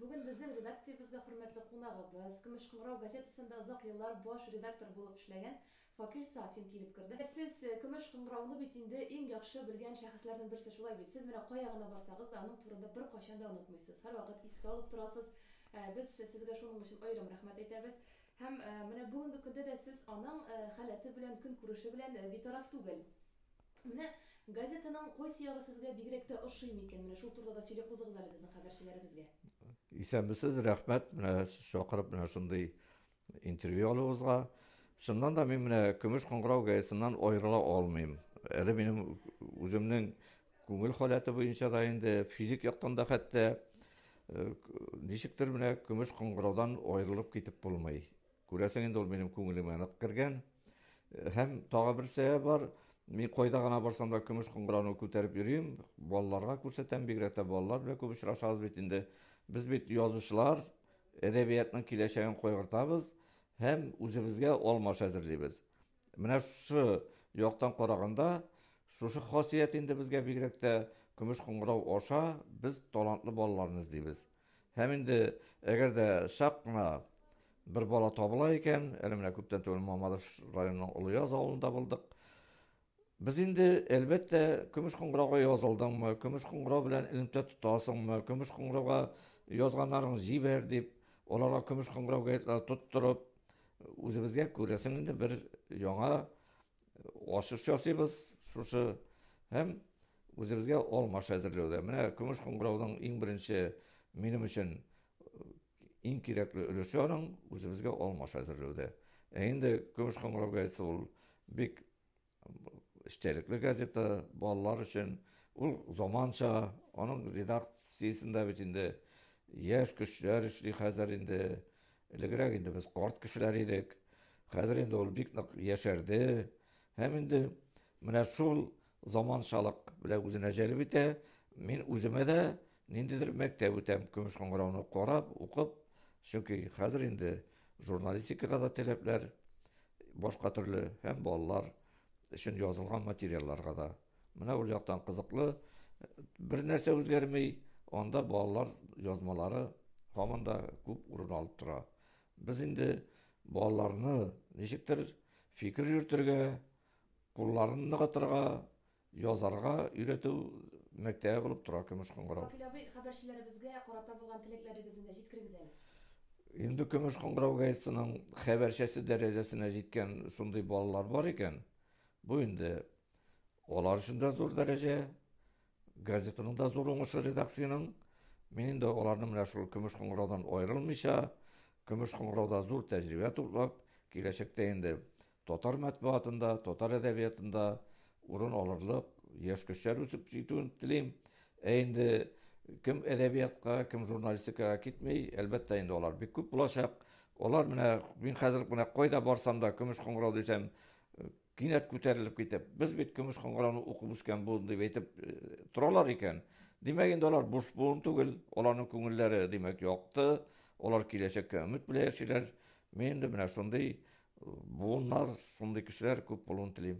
Бүген безнең редакциябезгә хөрмәтле кунагыбыз, Көмеш кыңгырау газетасында озак еллар баш редактор булып эшләгән Факил Сафин килеп керде. Сез Көмеш кыңгырауны бит инде иң яхшы белгән шәхесләрнең берсе, шулай бит? Сез менә кая гына барсагыз да, аның турында беркайчан да онытмыйсыз, һәрвакыт искә алып торасыз. Без сезгә шуның өчен аерым рәхмәт әйтәбез. Һәм менә бүгенге көндә дә сез аның халәте белән, көнкүреше белән битараф түгел. Менә газетаның кайсы ягы сезгә бигрәк тә ошый микән? Менә шул турыда да сөйләп узыгыз әле безнең хәбәрчеләребезгә. Исәнмесез, рәхмәт, менә сез чакырып менә шундый интервью алуыгызга. Чыннан да мин менә Көмеш кыңгырау гәзитеннән аерыла алмыйм. Әле минем үземнең күңел халәте буенча да инде физик яктан да хәтта ничектер менә Көмеш кыңгыраудан аерылып китеп булмый. Күрәсең инде ул минем күңелемә нык кергән. Һәм тагы бер сәбәп бар. Мин кайда гына барсам да көмеш кыңгырауны күтәреп йөрим. Балаларга күрсәтәм, бигрәк тә балалар белән күп очрашабыз бит инде. Без бит язучылар, әдәбиятның киләчәген кайгыртабыз һәм үзебезгә алмаш әзерлибез. Менә шушы яктан караганда, шушы хасият инде безгә бигрәк тә көмеш кыңгырау аша без талантлы балаларны эзлибез. Һәм инде әгәр дә чак кына бер бала табыла икән, әле менә күптән түгел Мамадыш районының Олыяз авылында булдык. Без инде, әлбәттә, көмеш кыңгырауга язылдыңмы, көмеш кыңгырау белән элемтә тотасыңмы, көмеш кыңгырауга язганнарың җибәр дип, аларга көмеш кыңгырау гәетләре тотторып, үзебезгә күрәсең инде бер яңа Ашыш ясыйбыз шушы һәм үзебезгә алмаш әзерләүдә. Менә көмеш кыңгырауның иң беренче минем өчен э, иң кирәкле өлеше аның үзебезгә алмаш әзерләүдә. Ә инде көмеш кыңгырау газетасы ул бик эчтәлекле газета, балалар өчен ул заманча, аның редакциясендә бит инде яшь көчләр эшли хәзер инде. Элегрәк инде без карт кешеләр идек, хәзер инде ул бик нык яшәрде һәм инде менә шул заманчалык белән үзенә җәлеп итә. Мин үземә дә ниндидер мәктәп үтәм, көмеш кыңгырауны карап, укып, чөнки хәзер инде журналистикага да таләпләр башка төрле һәм балалар өчен язылган материалларга да. Менә ул яктан кызыклы. Бер нәрсә үзгәрми, анда балалар язмалары һаман да күп урын алып тора. Без инде балаларны ничектер фикер йөртергә, кулларын ныгытырга, язарга өйрәтү мәктәбе булып тора Көмеш кыңгырау. Вакил абый, хәбәрчеләребезгә карата булган теләкләрегезне дә җиткерегез әле. Инде Көмеш кыңгырау газетасының хәбәрчесе дәрәҗәсенә җиткән шундый балалар бар икән, бу инде Алар өчен дә зур дәрәҗә, газетаның да зур уңышы редакциянең. Мин инде аларны менә шул көмеш кыңгыраудан аерылмыйча, көмеш кыңгырауда зур тәҗрибә туплап, киләчәктә инде татар мәтбугатында, татар әдәбиятында урын алырлык яшь көчләр үсеп җитүен телим. Ә инде кем әдәбиятка, кем журналистикага китми, әлбәттә инде алар бик күп булачак. Алар менә мин хәзер менә кайда барсам да көмеш кыңгырау дисәм, Кинәт күтәрелеп китеп, без бит көмеш кыңгырауны укып үскән буын дип әйтеп торалар икән. Димәк, инде алар буш буын түгел, аларның күңелләре, димәк, якты, алар киләчәккә өмет белән яшиләр. Мин инде менә шундый буыннар, шундый кешеләр күп булуын телим.